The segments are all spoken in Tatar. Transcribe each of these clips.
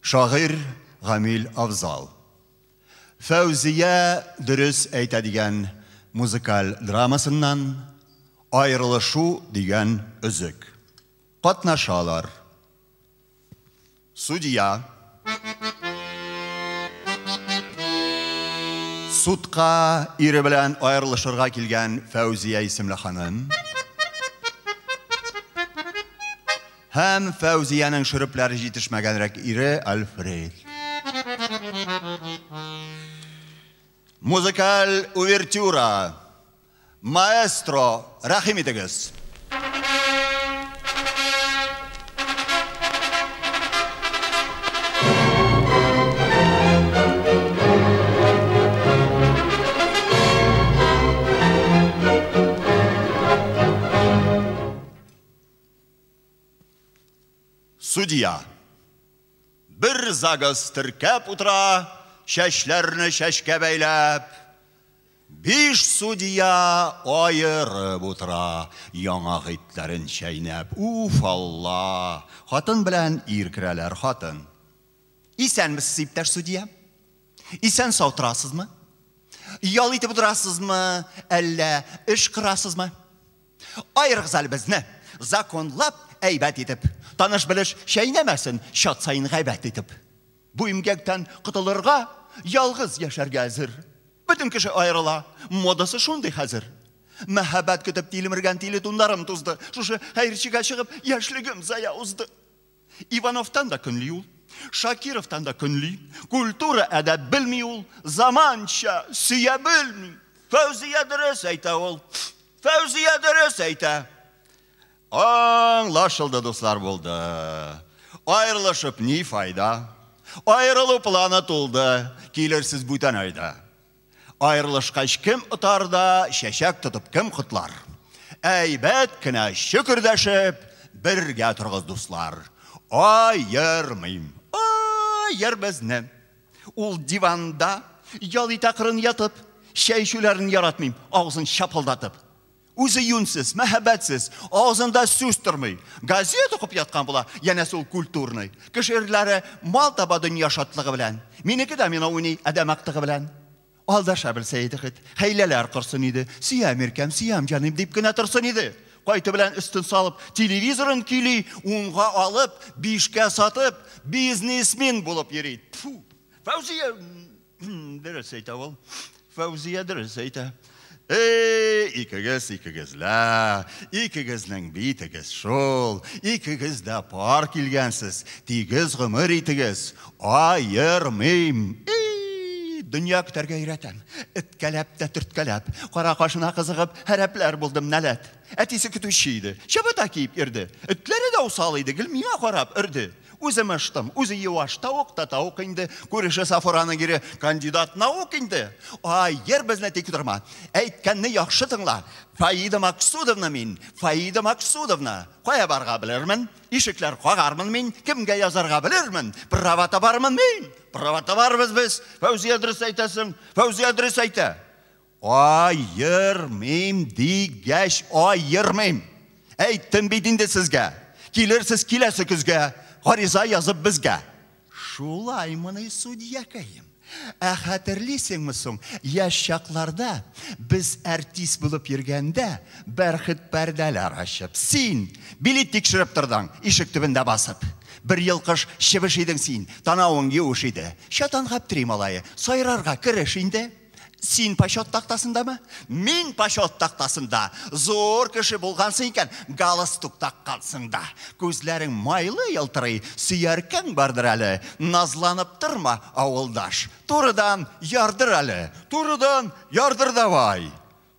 Шагыйрь Гамил Авзал. Фәүзия дөрес әйтә дигән музыкаль драмасыннан Аерылышу дигән өзек. Катнашалар. Судья. Судка ире белән аерылышырга килгән Фәүзия исемле ханым. Һәм Фәүзиянең шөрепләре җитешмәгәнрәк ире Альфред. Музыкаль увертюра. Маэстро, рәхим итегез. Судья. Бер загыз теркәп утыра, чәчләрне чәчкә бәйләп. Биш судья аерып утыра, яңа гыйтләрен чәйнәп. Уф, Алла! Хатын белән ир керәләр, хатын. Исәнмесез, иптәш судья. Исән сау торасызмы? Ял итеп утырасызмы, әллә эш кырасызмы? Аерыгыз әле безне, законлап, әйбәт итеп. Таныш-белеш чәйнәмәсен, чат саен гайбәт итеп. Бу имгәктән котылырга, ялгыз яшәргә әзер. Бөтен кеше аерыла, модасы шундый хәзер. Мәһабәт көтеп тилмергән тиле тунларым тузды. Шушы хәерчегә чыгып, яшьлегем зая узды. Ивановтан да көнли ул, Шакировтан да көнли. Культура әдәп белми ул, заманча, сөя белми. Фәүзия дөрес әйтә ул. Фәүзия дөрес әйтә. Аңлашылды, дуслар, булды. Аерылышып ни файда? Аерылу планы тулды. Килерсез бүтән айда. Аерылышкач кем отар да, чәчәк тотып кем котлар? Әйбәт кенә чөкердәшеп, бергә торгыз, дуслар. Аермыйм. Аер безне. Ул диванда ял итә кырын ятып, чәй эчүләрен яратмыйм, авызын чапылдатып. Үзе юньсез, мәһәбәтсез, авызында сүз тормый. Газет укып яткан була, янәсе ул культурный. Кыш ирләре мал таба дөнья шатлыгы белән. Минеке дә мина уйный адәм актыгы белән. Алдаша белсә иде хит, хәйләләр корсын иде. Сөям иркәм, сөям җаным дип кенә торсын иде. Кайты белән өстен салып, телевизорын көйли, унга алып, бишкә сатып, бизнесмен булып йөри. Тфу! Фәүзия Дөрес әйтә ул. Фәүзия дөрес әйтә. Эй, икегез, икегез лә, икегезнең битегез шул, икегез дә пар килгәнсез, тигез гомер итегез, аермыйм. Эй, дөнья көтәргә өйрәтәм. Эткәләп тә төрткәләп, кара кашына кызыгып, һәрәпләр булдым нәләт. Әтисе көтүче иде, чабата киеп йөрде. Этләре дә усал иде, гел миңа карап өрде. Үзе мыштым, үзе юаш, тавык та тавык инде, күреше Сафураның ире кандидат наук инде. Ай, йер безне тик торма. Әйткәнне яхшы тыңла. Фаида Максудовна мин, Фаида Максудовна. Кая барга белермен? Ишекләр кагармын мин, кемгә язарга белермен? Права табармын мин. Права табарбыз без. Фәүзия дөрес әйтәсең, Фәүзия дөрес әйтә. Аермыйм дигәч, аермыйм. Әйттем бит инде сезгә. Килерсез киләсе көзгә, гариза язып безгә. Шулаймыни, судьякәем? Ә хәтерлисеңме соң, яшь чакларда без артист булып йөргәндә, бәрхет пәрдәләр ачып, син билет тикшереп тордың, ишек төбендә басып. Бер елкыш чебеш идең син, танавың юеш иде. Чатан Гаптри малае, сайрарга кереш инде. Син почет тактасындамы? Мин почет тактасында. Зур кеше булгансың икән, галстук таккансың да. Күзләрең майлы елтырый, сөяркәң бардыр әле. Назланып торма, авылдаш. Турыдан ярдыр әле. Турыдан ярдыр давай.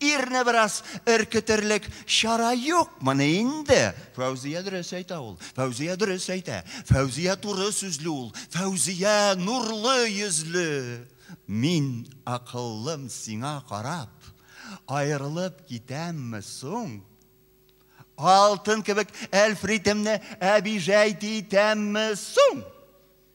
Ирне бераз өркетерлек чара юкмыни инде? Фәүзия дөрес әйтә ул. Фәүзия дөрес әйтә. Фәүзия туры сүзле ул. Фәүзия нурлы йөзле. Мин акыллым сиңа карап, аерылып китәмме соң? Алтын кебек әлфритемне әбижәйт итәмме соң?